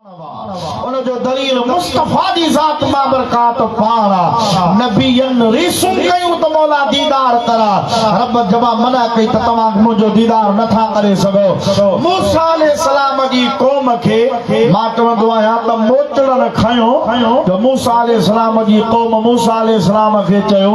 ان جو دليل مصطفيٰ جي ذات بابرڪات پاڻ آ. نبين ريسون ڪيون ته مولا ديدار ڪراء. رب جبا منع ڪئي ته توهان منهنجو ديدار نه ٿا ڪري سگهو. موسيٰ عليه السلام جي قوم کي مان چوندو آهيان ته موچڙن کنيو ته موسيٰ عليه السلام جي قوم موسيٰ عليه السلام کي چيو،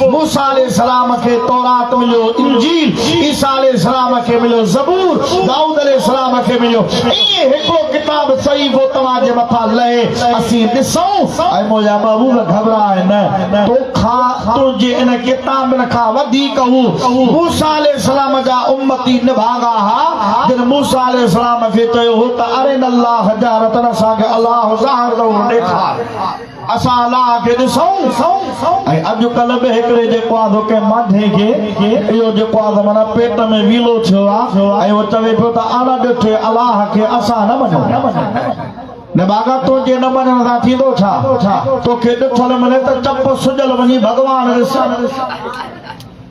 موسيٰ عليه السلام کي تورات مليو، انجيل، عيسيٰ عليه السلام کي مليو، زبور، دائود عليه السلام کي مليو، ائين هڪڙو ڪتاب صحيفو توهان جي مٿان لهي، اسين ڏسون. اي منهنجا محبوب! گهٻراء نه، توکان، تنهنجي ان ڪتابن کان وڌيڪ هو، موسيٰ عليه السلام جا امتي نڀاڳا ها، جن موسيٰ عليه السلام کي چيو هو ته ارنا الله جهرة، اسان کي الله ظاهر طور ڏيکار. اسان الله کي ڏسون ۽ اڄڪلهه به هڪڙي جيڪو آ سو ڪنهن مانڌي کي اهو جيڪو آ سو معنيٰ پيٽ ۾ ويلو ٿيو آ ۽ اهو چوي پيو ته اڻ ڏٺي الله کي اسان نه مڃون نه باغا تنهنجي نه مڃڻ سان ٿيندو ڇا توکي ڏٺل ملي ته چپ سجل وڃي ڀڳوان ڏس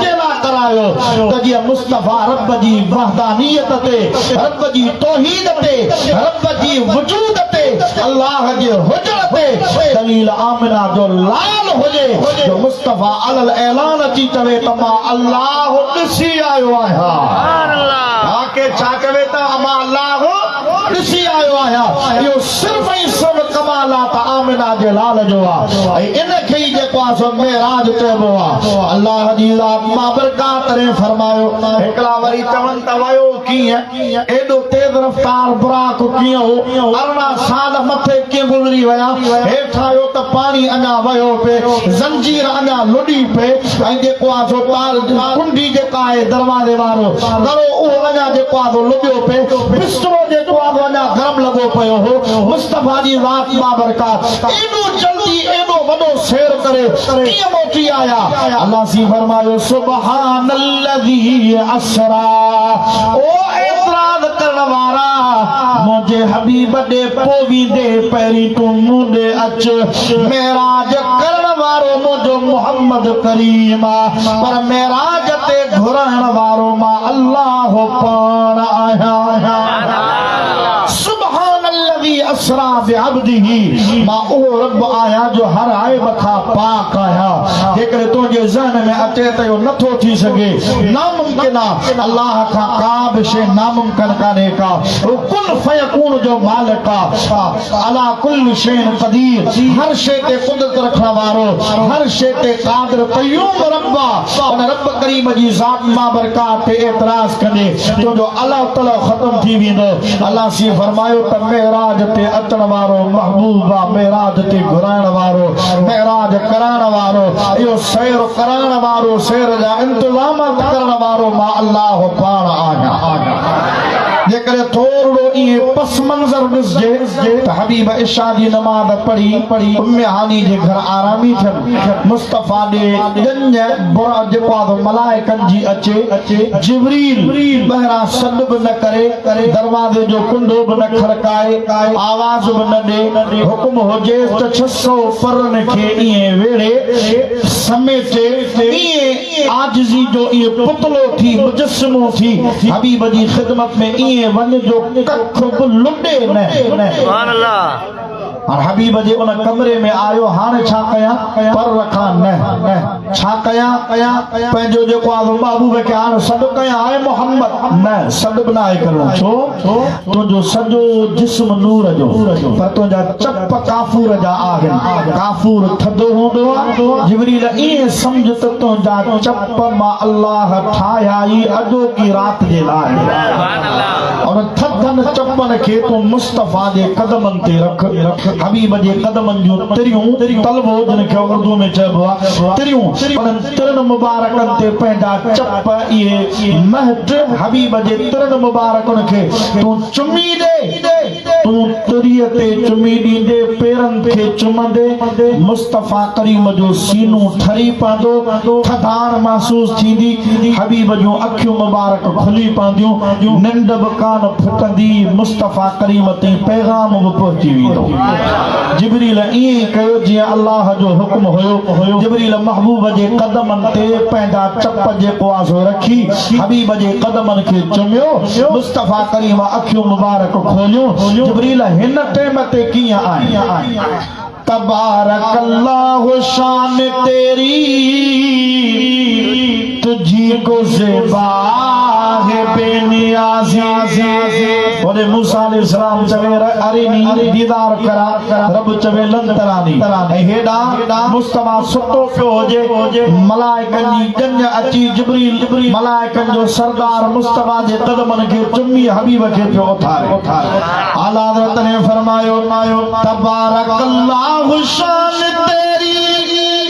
جي لاء ڪرايو ته جيئن مصطفيٰ رب جي وحدانيت تي، رب جي توحيد تي، رب جي وجود تي، الله جي هجڻ تي دليل آمنه جو لعل هجي جو مصطفيٰ علي الاعلان اچي چوي ته مان الله ڏسي آيو آهيان. ها ڪير ڇا چوي ته امان الله. ڏسي آيو آهيان اهو صرف ۽ صرف ڪمالات آمنه جي لال جو آ ۽ ان کي ئي جيڪو آ سو معراج چئبو آ الله جي ذات بابرڪات رين فرمايو هڪڙا وري چون ته ويو ڪيئن ايڏو تيز رفتار براڪ ڪيئن هو ارڙهن سال مٿي ڪيئن گذري ويا هيٺ آيو ته پاڻي اڃا وهيو پئي زنجير اڃا لڏي پئي ۽ جيڪو آسو ٽال جي ڪنڊي جيڪا آهي دروازي وارو دڙو اهو اڃا جيڪو آسو لٻيو پئي بسترو جيڪو آسو اڃا گرم لڳو پيو هو مصطفيٰ جي ذات بابرڪات ايڏو جلدي ايڏو وڏو سير ڪري ڪيئن موٽي آيا الله سين فرمايو سبحان الذي اسرا او اعتراض ڪرڻ وارا منهنجي حبيب ڏي پويندي پهرين تون مون ڏي اچ معراج ڪرڻ وارو منهنجو محمد ڪريم آ پر معراج تي گهرائڻ وارو مان الله پاڻ آهيان سبحان الذي اسرا بعبده مان اهو رب آهيان جو هر عيب کان پاڪ آهيان جيڪڏهن تنهنجي ذهن ۾ اچي ته اهو نٿو ٿي سگهي ناممڪن آ الله کان ڪا به شيء ناممڪن ڪانهي ڪا هو ڪن فيڪون جو مالڪ آ علی ڪل شيء قدير، هر شيء تي قدرت رکڻ وارو، هر شيء تي قادر قيوم رب آ، ان رب ڪريم جي ذات بابرڪات تي اعتراض ڪندي تنهنجو الهه تلهه ختم ٿي ويندو. الله سين فرمايو ته معراج تي اچڻ وارو محبوب آ، معراج تي گهرائڻ وارو، معراج ڪرائڻ وارو، اهو سير ڪرائڻ وارو، سير جا انتظامات ڪرڻ وارو مان الله پاڻ آهيان. جيڪڏهن ٿورڙو اهي پس منظر ڏسجي ته حبيب عشاء جي نماز پڙهي ام هاني جي گهر آرامي ٿين مصطفيٰ ڏي ڄڃ برء جپاڌو ملائڪن جي اچي جبريل ٻهران سڏ به نه ڪري دروازي جو ڪنڊو به نه کڙڪائي آواز به نه ڏي حڪم هجيس ته ڇهه سؤ پرن کي ايئن ويڙهي سميٽي ايئن عاجزي جو اهي پتلو ٿي، مجسمو ٿي، حبيب جي خدمت ۾ ائين وڃ جو ڪک به لڏي نه. هن حبيب جي ان ڪمري ۾ آيو، هاڻي ڇا ڪيان؟ پر رکان نه. ڇا ڪيان؟ پنهنجو جيڪو آزو محبوب کي هاڻي سڏ ڪيان، اي محمد! نه، سڏ به ناهي ڪرڻو. ڇو؟ تنهنجو سڄو جسم نور جو پر تنهنجا چپ ڪافور جا آهن ڪافور ٿڌو هوندو آهي جبريل ائين سمجھ ته تنهنجا چپ مان الله ٺاهيا ئي اڄوڪي رات جي لاء انهن ٿڌن چپن کي تون مصطفيٰ جي قدمن تي رک حبيب جي قدمن جون تريون طلبو جن کي اردو ۾ چئبو آهي تريون ترن مبارڪن تي پنهنجا چپ اهي مهٽ حبيب جي ترن مبارڪن کي تون چمي ڏي تون تري تي چمي ڏيندي پيرن کي چمندي مصطفيٰ ڪريم جو سينو ٺري پوندو ٿڌاڻ محسوس ٿيندي حبيب جون اکيون مبارڪ کلي پونديون ننڊ به ڪانه ڦٽندي مصطفيٰ ڪريم تائين پيغام به پهچي ويندو جبريل ائين ئي ڪيو جيئن الله جو حڪم هيو. جبريل محبوب جي قدمن تي پنهنجا چپ جي ڪواسو رکي حبيب جي قدمن کي چميو. مصطفيٰ ڪريم اکيون مبارڪ کوليون. جبريل هن ٽيم تي ڪيئن آئين؟ تبارڪ الله شان تيري. تجھي ڪو زيبا ہے بي نيازي وري موسيٰ عليه السلام چوي اريني ديدار ڪرا رب چوي لن تراني ۽ هيڏا مصطفيٰ ستو پيو هجي ملائڪن جي ڄڃ اچي جبريل ملائڪن جو سردار مصطفيٰ جي قدمن کي چمي حبيب کي پيو اٿاري اعليٰ حضرت ني فرمايو تبارڪ الله شان تيري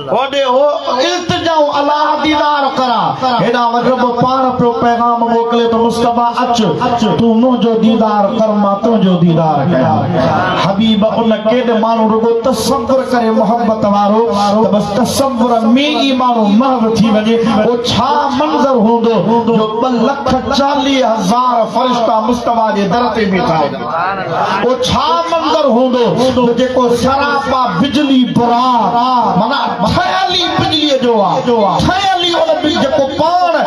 هوڏي هو التجائون الله ديدار ڪرا هيڏانهن وٽ رب پاڻ پيو پيغام موڪلي ته مصطفيٰ اچ تون منهنجو ديدار ڪر مان تنهنجو ديدار ڪيان حبيب ان ڪيڏ ماڻهو رڳو تصور ڪري محبت وارو ته بس تصور ۾ ئي ماڻهو محو ٿي وڃي پوء ڇا منظر هوندو جو ٻه لک چاليهه هزار فرشتا مصطفيٰ جي در تي بيٺا هجن اهو ڇا منظر هوندو ته جيڪو سراپا بجلي بران معنيٰ ٺهيل ئي بجليء جو آ، ٺهيل ئي ان بج جيڪو پاڻ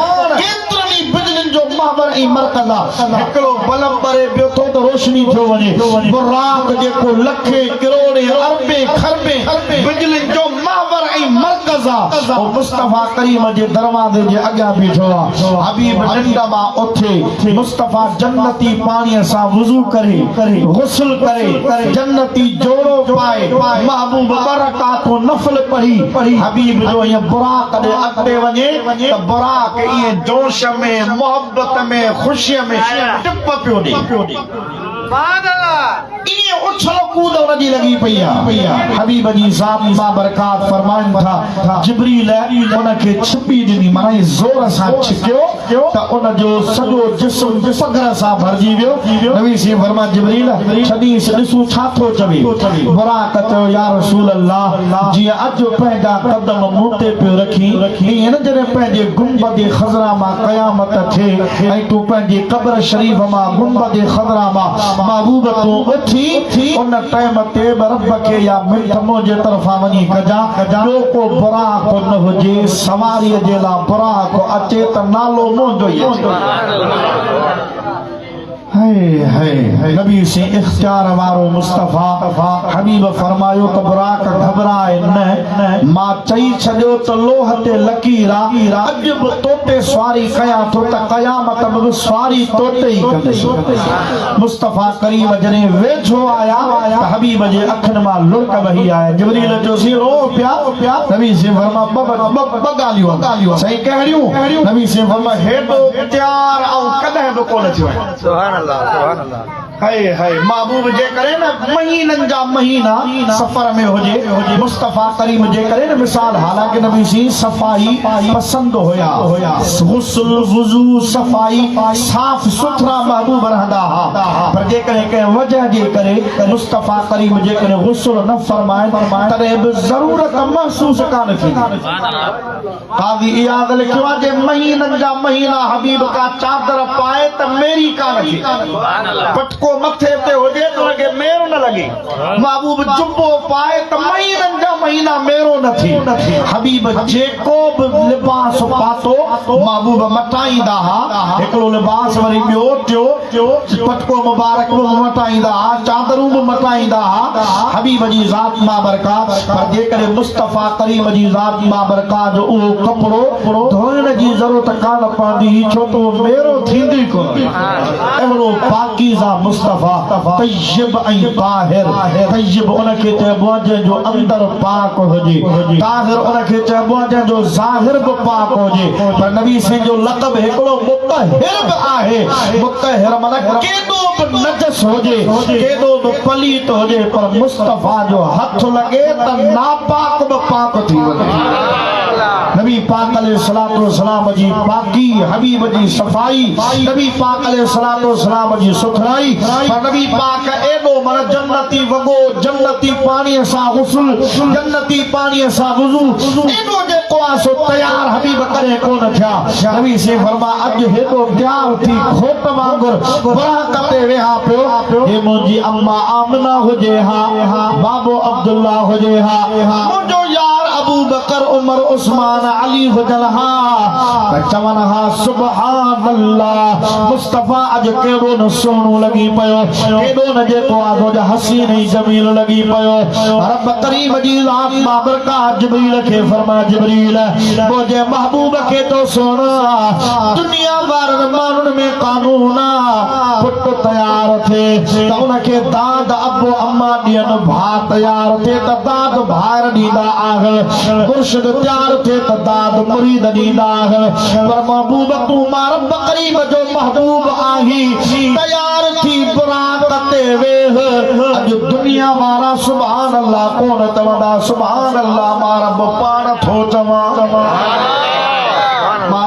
ڪيترن ئي بجلين جو محور ۽ مرڪز آ. هڪڙو بلب ٻري پيو ٿو ته روشني ٿيو وڃي. براق جيڪو لکين، ڪروڙين، اربين، کربين بجلين جو محور ۽ مرڪز آ، اهو مصطفيٰ ڪريم جي دروازي جي اڳيان بيٺو آ. حبيب ننڊ مان اٿي. ٿي. مصطفيٰ جنتي پاڻيء سان وضو ڪري، غسل ڪري، جنتي جوڙو پائي، محبوب ٻه رڪعتون نفل پڙهي، حبيب جو ائين براق ڏي اڳتي وڃي ته براق ائين جوش ۾، محبت ۾، خوشيء ۾ ٽپ پيو ڏي. بعد الله ائين اڇل ڪود ان جي لڳي پئي آهي حبيب جي زامن بابرڪات فرمائن ٿا جبريل ان کي ڇپي ڏني معني زور سان ڇڪيو ته ان جو سڄو جسم پگهر سان ڀرجي ويو نبي سين فرمائن جبريل ڇڏينس ڏسون ڇا ٿو چوي براق چيو يا رسول الله جيئن اڄ پنهنجا قدم مون تي پيو رکين ائين نه جڏهن پنهنجي گنبد خضرا مان قيامت ٿئي ۽ تون پنهنجي قبر شريف مان گنبد خضرا مان محبوب تون اٿي ان ٽائيم تي به رب کي يا منٿ منهنجي طرفان وڃي ڪجان ٻيو ڪو براق نه هجي سواري جي لا براق اچي ته نالو منهنجو ئي اچي هي هي نبي سين اختيار وارو مصطفيٰ حبيب فرمايو ته براق گهٻراء نه مان چئي ڇڏيو ته لوح تي لڪير آ اڄ به توتي سواري ڪيان ٿو ته قيامت ۾ به سواري توتي ئي ڪندس مصطفيٰ ڪريم جڏهن ويجهو آيا ته حبيب جي اکين مان لڙڪ وهي آيا جبريل جو سين روء پيا نبي سين فرمايو ٻه ٻه ڳالهيون سائين ڪهڙيون نبي سين فرمايو هيڏو تيار آئون ڪڏهن به ڪونه ٿيو آهيان. سبحان الله سبحان الله. هائي هائي محبوب جي ڪري نه مهينن جا مهينا سفر ۾ هجي مصطفيٰ ڪريم جي ڪري نه مثال حالانڪه نبي سين صفائي پسند هيا غسل وضو صفائي صاف سٿرا محبوب رهندا ها پر جيڪڏهن ڪنهن وجه جي ڪري مصطفيٰ ڪريم جي ڪري غسل نه فرمائن تڏهن به ضرورت محسوس ڪانه ٿيندي. قاضي اياز لکيو آهي جي مهينن جا مهينا حبيب ڪا چادر پائي ته ميري ڪا نه ٿئي پٽڪو مٿي تي هجي ته ان کي مير نه لڳي محبوب جبو پائي ته مهينن جا مهينا ميرو نه ٿئي حبيب جيڪو به لباس پاتو محبوب مٽائيندا ها هڪڙو لباس وري ٻيو ٽيو جو پٽڪو مبارڪ به مون وٽان ايندا ها، چادرون به مٽان ايندا ها، حبيب جي ذات مابرڪاء، پر جيڪڏهن مصطفيٰ ڪريم جي ذات مابرڪاء جو اهو ڪپڙو ڌوئڻ جي ضرورت ڪانه پوندي هئي، ڇو ته اهو ميرو ٿيندو ئي ڪونه هو. اهڙو پاڪيزه مصطفيٰ، طيب ۽ طاهر، طيب ان کي چئبو آهي جنهن جو اندر پاڪ هجي، طاهر ان کي چئبو آهي جنهن جو ظاهر به پاڪ هجي، پر نبي سائين جو لقب هڪڙو مطهر. به آهي، مطهر معنيٰ ڪيڏو به نجس هجي، ڪيڏو به پليت هجي پر مصطفيٰ جو هٿ لڳي ته ناپاڪ به پاڪ ٿي وڃي. نبي پاڪ عليه الصلوة والسلام جي پاڪي، حبيب جي صفائي، نبي پاڪ عليه الصلوة والسلام جي سٿرائي پر نبي پاڪ ايڏو معنيٰ جنتي وڳو، جنتي پاڻيء سان غسل، جنتي پاڻيء سان وضو، ايترو جيڪو آ سو تيار حبيب ڪڏهن ڪونه ٿيا نبي سين فرماء اڄ هيڏو تيار ٿي کوٽ وانگر براق تي ويها پيو جي منهنجي اما آمنه هجي ها بابو عبدالله هجي ها منهنجو يار ابوبڪر عمر عثمان علي هجن ها ته چون ها سبحان الله مصطفي اڄ ڪيڏو نه سهڻو لڳي پيو ڪيڏو نه جيڪو آ سو حسين ۽ جميل لڳي پيو رب ڪريم جي ذات بابرڪات جبريل کي فرماء جبريل منهنجي محبوب کي تو سوڻا دنيا وارن ماڻهن ۾ قانون آ پٽ تيار ٿي ته ان کي داد ابو اما ڏين ڀاء تيار ٿي ته داد ڀائر ڏيندا آهن مرشد تيار ٿي ته داد مريد ڏيندا آهن پر محبوب تون ماء رب قريب جو محبوب آهي تيار ٿي براق تي ويهه اڄ دنيا وارا سبحان سبحان الله ڪونه ته وڏا سبحان الله مان رب پاڻ ٿو چوان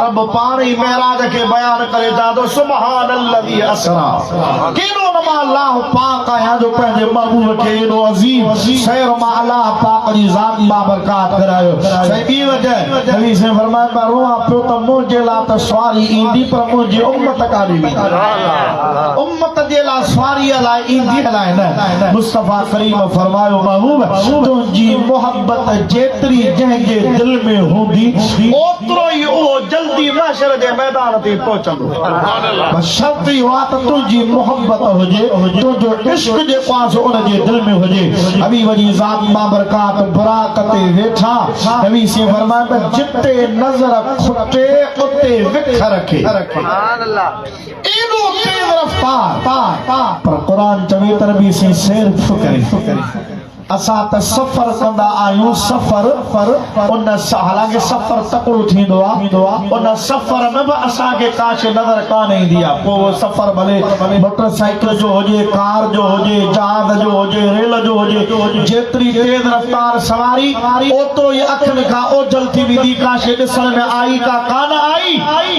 رب پاڻ ئي معراج کي بيان ڪري چا ٿو سبحان الذي اسرا ڪيڏو نما الله پاڪ آهيان جو پنهنجي محبوب کي ايڏو عظيم سير مان الله پاڪ جي ذات با برکات ڪرايو سائين ٻي وجه نبي سين فرمايو ته روحان پيو ته منهنجي لا ته سواري ايندي پر منهنجي امت ڪاڏي ويندي امت جي لاء سواريء لاء اينديء لاء نه. مصطفيٰ ڪريم فرمايو، محبوب! تنهنجي محبت جيتري جنهن جي دل ۾ هوندي، اوترو ئي اهو جلدي محشر جي ميدان تي پهچندو. بس شرط اهو آهي ته تنهنجي محبت هجي، تنهنجو عشق جيڪو آهي سو ان جي دل ۾ هجي. نبي وڃي ذات بابرڪات براق تي ويٺا. نبي سين فرمايو ته جتي نظر کٽي، اتي وک رکي. ايڏو تيز رفتار پر قرآن چوي ته نبي سين سير ٿو ڪري اسان ته سفر ڪندا آهيون سفر پر ان حالانڪه سفر تڪڙو ٿيندو آهي ان سفر ۾ به اسان کي ڪا شي نظر ڪانه ايندي آهي پوء اهو سفر ڀلي موٽر سائيڪل جو هجي ڪار جو هجي جهاز جو هجي ريل جو هجي جيتري تيز رفتار سواري اوتو ئي اکين کان اوجهل ٿي ويندي ڪا شي ڏسڻ ۾ آئي ڪا ڪانه آئي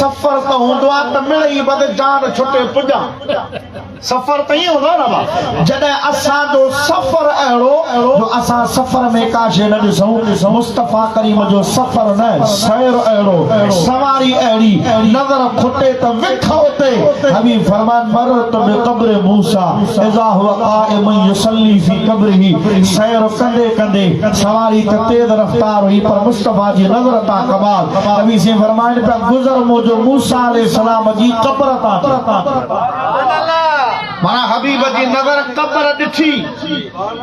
سفر ته هوندو آ ته مڙئي بد جان ڇٽي پڄان سفر ته ائين هوندو آ نه ڀا جڏهن اسان جو سفر اهڙو جو اسان سفر ۾ ڪا شيء نه ڏسون مصطفيٰ ڪريم جو سفر نه سير اهڙو سواري اهڙي نظر کٽي ته وک اتي حبيب فرمان مررت بقبر موسيٰ اذا هو قائم يصلي في قبره سير ڪندي ڪندي سواري ته تيز رفتار هئي پر مصطفيٰ جي نظر تان ڪمال نبي سين فرمائن پيا گذر موجو موسيٰ عليه السلام جي قبر تان ٿي سبحان الله مانا حبيب جي نظر قبر ڏٺي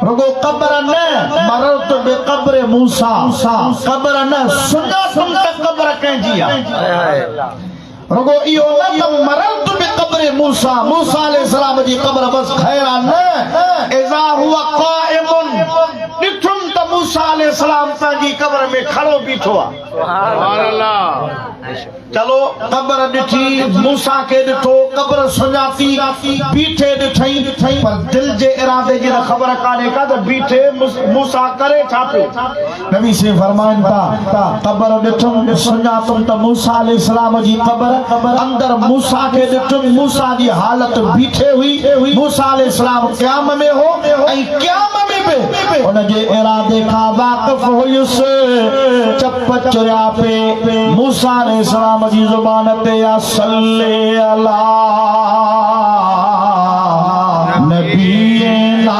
رڳو قبر نه مررت بقبر موسيٰ قبر نه سڃاتم ته قبر ڪنهن جي آهي رڳو اهو نه ته مررت بقبر موسيٰ، موسيٰ عليه السلام جي قبر بس خيرا نه، اذا هو قائم، ڏٺم ته موسيٰ عليه السلام پنهنجي قبر ۾ کڙو بيٺو آ. سبحان الله. چلو قبر ڏٺي، موسيٰ کي ڏٺو، قبر سڃاتي، بيٺي ڏٺئين، پر دل جي ارادي جي ته خبر ڪانهي ڪا ته بيٺي موسيٰ ڪري ڇا پيو. نبي سين فرمائن ٿا قبر ڏٺم سڃاتم ته موسيٰ عليه السلام جي قبر اندر موسيٰ کي ڏٺم موسيٰ جي حالت بيٺي هئي موسيٰ عليه السلام قيام ۾ هو ۽ قيام ۾ به ان جي ارادي کان واقف هيس چپ چريا پي موسيٰ عليه السلام جي زبان تي يا صلي علي نبينا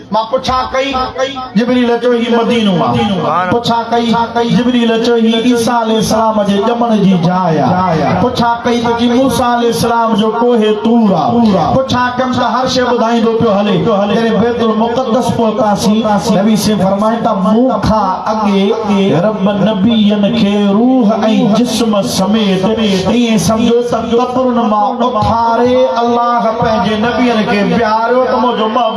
مان پڇا ڪئي، جبريل چيو هي مدينو آ. پڇا ڪئي، جبريل چيو هي عيسيٰ عليه السلام جي ڄمڻ جي جاء آ. پڇا ڪئي ته جي موسيٰ عليه السلام جو ڪوهه طور آ. پڇا ڪيم ته هر شيء ٻڌائيندو پيو هلي. جڏهن بيت المقدس پهتاسين، نبي سين فرمائين ته مون کان اڳي رب نبين کي روح ۽ جسم سميت ائين سمجهو ته قبرن مان اٿاري الله پنهنجي نبين کي بيهاريو ته منهنجو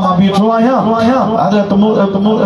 مان بيٺو آهيان حضرت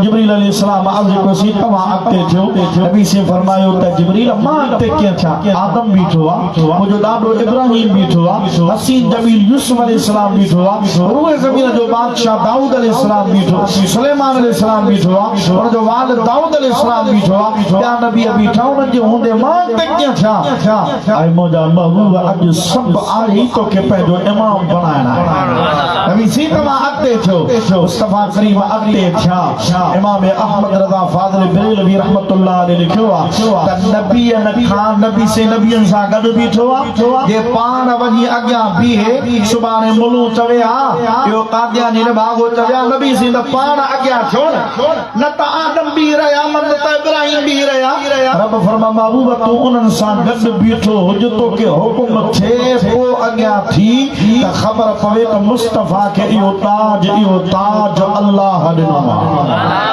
جبريل عليه السلام عرض ڪيو سي توهان اڳتي ٿيو نبي سين فرمايو ته جبريل مان اڳتي ڪيئن ٿيان آدم بيٺو آ منهنجو ڏاڏو ابراهيم بيٺو آ حسين جميل يوسف عليه السلام بيٺو آ روء زمين جو بادشاهه دائود عليه السلام بيٺو سليمان عليه السلام بيٺو آ ان جو والد دائود عليه السلام بيٺو آ ٻيا نبي بيٺا انهن جي هوندي مان اڳتي ڪيئن ٿيان اي منهنجا محبوب اڄ سڀ آڙي توکي پنهنجو امام بڻائڻ آهي نبي سي توهان اڳتي ٿيو مصطفيٰ ڪريم اڳتي ٿيا امام احمد رضا فاضل بريلوي رحمت الله عليه لکيو آهي ته نبي کان نبي سي نبين سان گڏ بيٺو آهي جي پاڻ وڃي اڳيان بيهي سڀاڻي ملون چوي ها اهو قادياني نڀاڳو چوي ها نبي سي ته پاڻ اڳيان ٿيو نه نه ته آدم بيهي رهيا نه ته ابراهيم بيهي رهيا. رب فرمايو محبوب تون انهن سان گڏ بيٺو هج توکي حڪم ٿئي پوء اڳيان ٿي ته خبر پوي ته مصطفيٰ کي اهو تاج اهو تاج الله ڏنو آهي.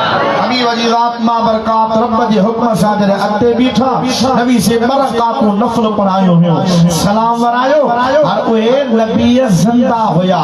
نبي وجي ذات بابرڪات رب جي حڪم سان جڏهن اڳتي بيٺا نبي سي ٻه رڪعتون نفل پڙهايون هيون سلام ورايو هر اهي نبي زنده هيا.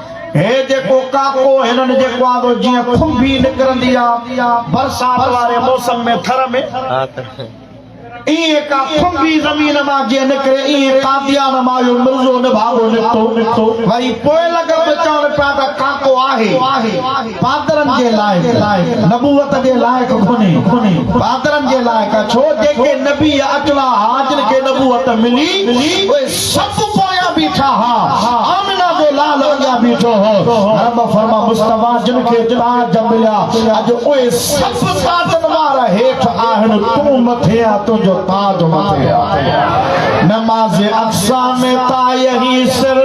هي جيڪو ڪاڪو هنن جيڪو آندو جيئن کنڀي نڪرندي آ برسات واري موسم ۾ ٿر ۾ ايئن ڪا کنڀي زمين مان جيئن نڪري ايئن قاديان مان اهو مرزو نڀاڳو نڪتو وري پوء لڳ به چوڻ پيا ته ڪاڪو آهي پادرن جي لائق نبوت جي لائق ڪونهي پادرن جي لائق آ ڇو جيڪي نبي اڪلا ها جن کي نبوت ملي اهي سڀ پويان بيٺا ها آمنه جو لال اڳيان بيٺو هو رب فرما مصطفيٰ جن کي تاج مليا اڄ اهي سڀ تاجن وارا هيٺ آهن تون مٿي آ تنهنجو تاج مٿي آ نماز اقصا ۾ تايهي سر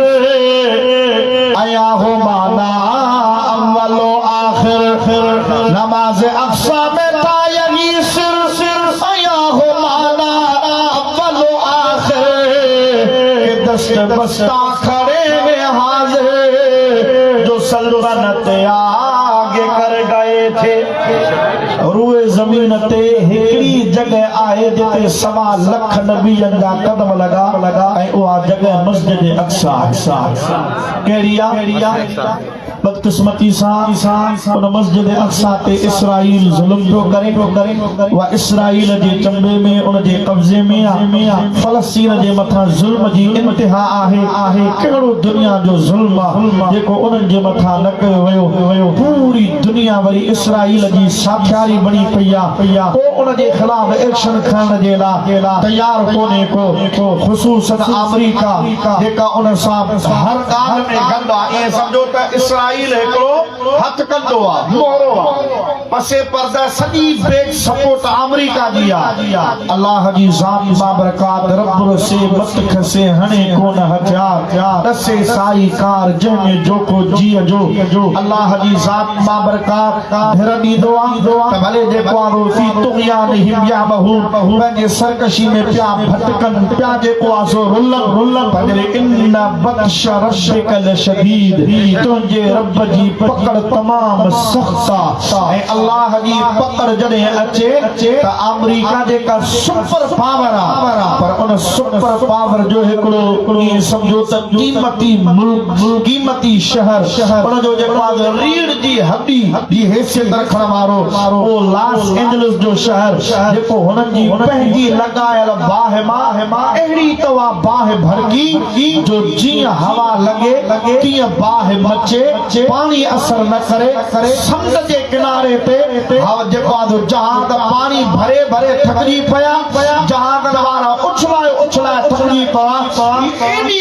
ايا هو مانا اول و آخر نماز اقصی ۾ تا يعني سر ۽ آهو معنيٰ اول و آخر اي دست بستا کڻي وي حاضر جو سلطنت آگي ڪر ڳائي ٿي روئي زمين تي هڪڙي ئي جڳهه آهي جتي سوا لک نبين جا قدم لڳا ۽ اها جڳهه مسجد اقصي آهي ڪهڙي آ بدقسمتي سان ان مسجد اقصيٰ تي اسرائيل ظلم پيو ڪري اها اسرائيل جي چنبي ۾ ان جي قبضي ۾ آ فلسطين جي مٿان ظلم جي انتها آهي ڪهڙو دنيا جو ظلم آ جيڪو انهن جي مٿان نه ڪيو ويو پوري دنيا وري اسرائيل جي ساٿياري بڻي پئي آ ڪو ان جي خلاف ايڪشن کڻڻ جي لا تيار ڪونهي ڪو خصوصن آمريڪا جيڪا ان سان هر ڳالهه ۾ گڏ آ، ائين سمجهو ته اسرائيل هڪڙو هٿ ڪنڊو آ، مهرو آ. پس پرده سڄي بيڪ سپورٽ آمريڪا جي آ. الله جي ذات بابرڪات رب رسي مت کسي هڻي ڪونه هٿيار ڏسي سائي ڪار جنهن ۾ جوکو جيء جو الله جي ذات بابرڪات. ڌر ڏيندو آ ته ڀلي جيڪو آ روء في طغيانهم يعمهون پنهنجي سرڪشي ۾ پيا ڀٽڪن پيا جيڪو آ سو رلن پر ان بطش ربك لشديد تنهنجي رب جي پڪڙ تمام سخت آ ۽ الله جي پڪڙ جڏهن اچي ته آمريڪا جيڪا سپر پاور آ پر ان سپر پاور جو هڪڙو ائين سمجهو ته قيمتي ملڪ قيمتي شهر ان جو جيڪو آ ته ريڙهه جي هڏي جي حيثيت رکڻ وارو اهو لاس اينجلس جو شهر جيڪو هنن جي پنهنجي لڳايل باهه مان اهڙي طوع باهه ڀڙڪي جو جيئن هوا لڳي تيئن باهه مچي پاڻي اثر نه ڪري سمنڊ جي ڪناري تي جيڪو آڌو جهاز پاڻي ڀري ڀري ٿڪجي پيا جهازن وارا اڇلائي اڇلائي ٿڪجي پوا هي ايڏي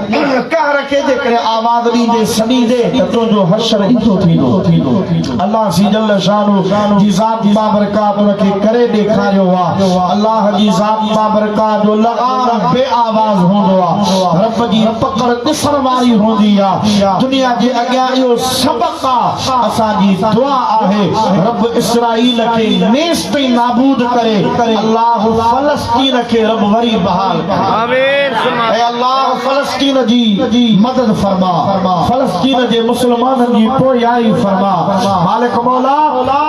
ان قهر کي جيڪڏهن آواز ڏيندي سڏيندي ته تنهنجو حشر ايندو ٿيندو الله سي جل شانه جي ذات بابرڪات ان کي ڪري ڏيکاريو آهي الله جي ذات بابرڪات جو لغار بي آواز هوندو آهي رب جي پڪڙ ڏسڻ واري هوندي آهي دنيا جي اڳيان اهو سبق آهي اسان جي دعا آهي رب اسرائيل کي نيس تائين نابود ڪري الله فلسطين کي رب وري بحال ڪري آمين اي الله فلسطين جي مدد فرما فلسطين جي مسلمانن جي پويائي فرما مالڪ مولا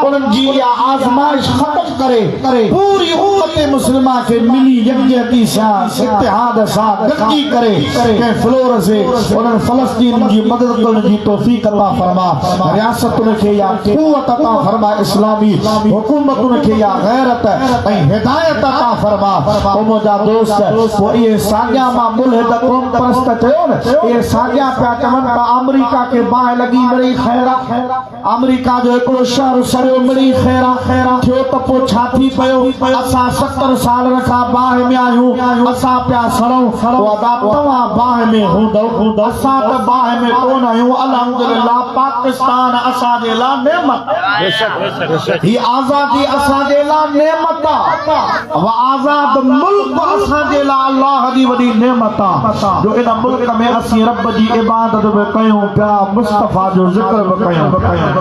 انهن جي يا آزمائش ختم ڪري پوري امت مسلمه کي ملي يڪجهتي سان اتحاد سان گڏجي ڪري ڪنهن فلور سي انهن فلسطين جي مدد ڪرڻ جي توفيق عطا فرما رياستن کي يا قوت عطا فرما اسلامي حڪومتن کي يا غيرت ۽ هدايت عطا فرما منهنجا دوست هو اهي ساڳيا مان ملحد قوم پرست چيو نه اهي ساڳيا پيا چون ته آمريڪا کي باهه لڳي مڙئي خيرا آمريڪا جو هڪڙو شهر سڙيو مڙئي خيرا خيرا ٿيو ته پوء ڇا ٿي پيو اسان ستر سال رکا باهه ۾ آهيون اسان پيا سڙون ادا توهان باهه ۾ هوندو اسان ته باهه ۾ ڪون آهيون الحمدلله پاڪستان اسان جي لا نعمت هي آزادي اسان جي لا نعمت و آزاد ملڪ اسان جي لاء الله جي وڏي نعمت آ جو ان ملڪ ۾ اسين رب جي عبادت به ڪيون پيا مصطفيٰ جو ذڪر به ڪيون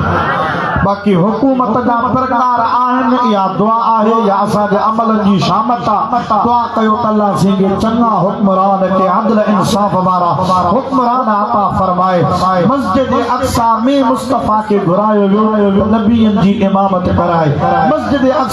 باقي حڪومت جا پرڪار آهن اها دعا آهي يا اسان جي عملن جي شامت آ دعا ڪيو ته الله سين کي چڱا حڪمران کي عدل انصاف وارا حڪمران عطا فرمائي مسجد اقصيٰ ۾ مصطفيٰ کي گهرايو ويو نبين جي امامت ڪرائي مسجد اقصيٰ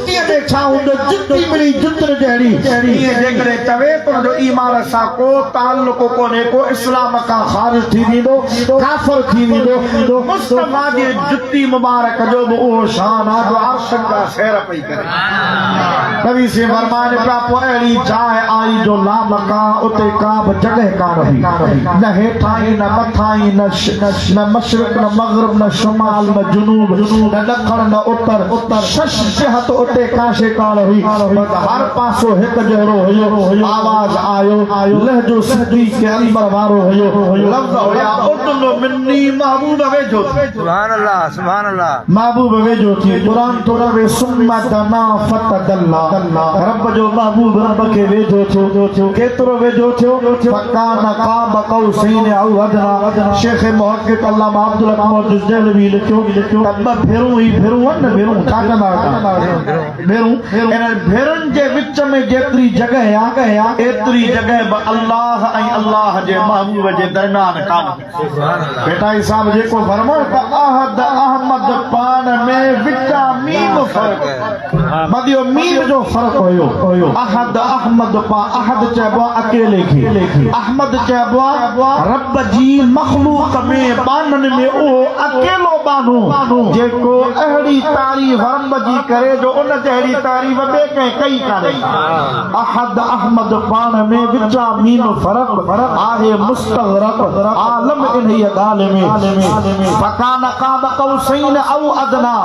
ڌرتيء تي ڇا هوندو، جتي مڙئي جتر جهڙي. ائين جيڪڏهن چوي ته ان جو ايمان سان ڪو تعلق ڪونهي، ڪو اسلام کان خارج ٿي ويندو، ڪافر ٿي ويندو، مصطفيٰ جي جتي مبارڪ جو به اهو شان آهي جو عرشن جا سير پئي ڪري. ڪوي سين فرمائن پيا، پوء اهڙي جاء آئي جو لامڪان، اتي ڪا به جڳهه ڪانه هئي، نه هيٺاهين نه مٿاهين، نه نه مشرق نه مغرب نه شمال نه جنوب نه ڏکڻ نه اتر شش جهت اتي ڪا شي ڪانه هئي پر هر پاسو هڪ جهڙو هيو آواز آيو لهجو سنڌي کي اندر وارو هيو لفظ هيا ادنو مني محبوب ويجهو ٿي سبحان الله محبوب ويجهو ٿي قرآن ٿو روي ثم دنا فتدلّا رب جو محبوب رب کي ويجهو ٿيو ڪيترو ويجهو ٿيو فڪان قاب قوسين او ادنٰي شيخ محقق علامه عبدالرحمٰن جس دهلوي لکيو ته ٻه ڀيرون هي ڀيرون آهن نه ڀيرون ڇا چوندا آهيو ڀيرون انهن ڀيرن جي وچ ۾ جيتري جڳهه آهي ايتري جڳهه به الله ۽ الله جي محبوب جي درميان ڪانه ڀٽائي صاحب جيڪو فرمائو ته احد احمد پاڻ ۾ وچان ميم فرق مديو ميم جو فرق هيو احد احمد پا احد چئبو آ اڪيلي کي احمد چئبو آ رب جي مخلوق ۾ ٻانهن ۾ اهو اڪيلو ٻانهو جيڪو اهڙي تعريف رب جي ڪري جو ان جهڙي تعريف ٻي ڪنهن ڪئي ڪانهي احد احمد پاڻ ۾ وٽامين فرق آهي مستغرق عالم انهيء ڳالهه ۾. فڪان قاب قوسين او ادنيٰ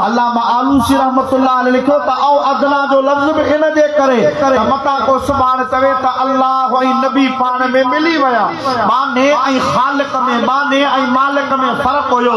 علامه آلوسي رحمة الله عليه لکيو ته او ادنيٰ جو لفظ به ان جي ڪري ته متان ڪو سڀاڻ چوي ته الله ۽ نبي پاڻ ۾ ملي ويا معني ۽ خالق ۾ معني ۽ مالڪ ۾ فرق هيو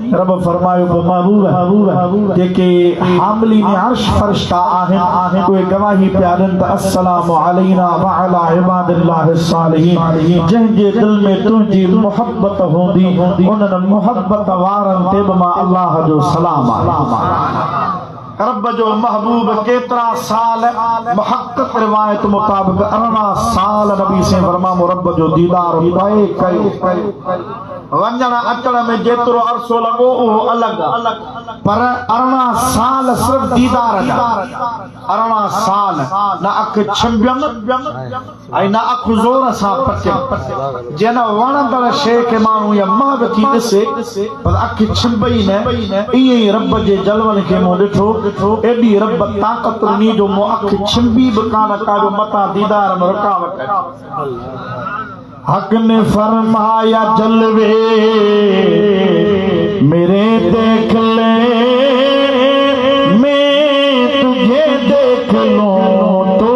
رب فرمايو ته مغرور جيڪي حاملين عرش فرشتا آهن اهي گواهي پيا ڏين ته السلام علينا وعلي عباد الله الصالحين جنهن جي دل ۾ تنهنجي محبت هوندي انهن محبت وارن تي به مان الله جو سلام آهي عرب جو محبوب ڪيترا سال محقق روايت مطابق ارڙهن سال نبي سين ورمامو رب جو ديدار پئي ڪيو ونجڻ اچڻ ۾ جيترو عرصو لڳو اهو الڳ پر ارڙهن سال صرف ديدار جا ارڙهن سال نه اک ڇنبين ۽ نه اک زور سان پٽين، جيئن نه وڻندڙ شيء کي ماڻهو يا مهڳ ٿي ڏسي، بس اک ڇنڀ ئي نه. ائين ئي رب جي جلون کي مون ڏٺو، ايڏي رب طاقت ڏني جو مون اک ڇنڀي به ڪانه ڪا جو متان ديدار ۾ رڪاوٽ اچي. حق ني فرمايا جلوي ميري ديک لي مين تجھي ديک لون تو.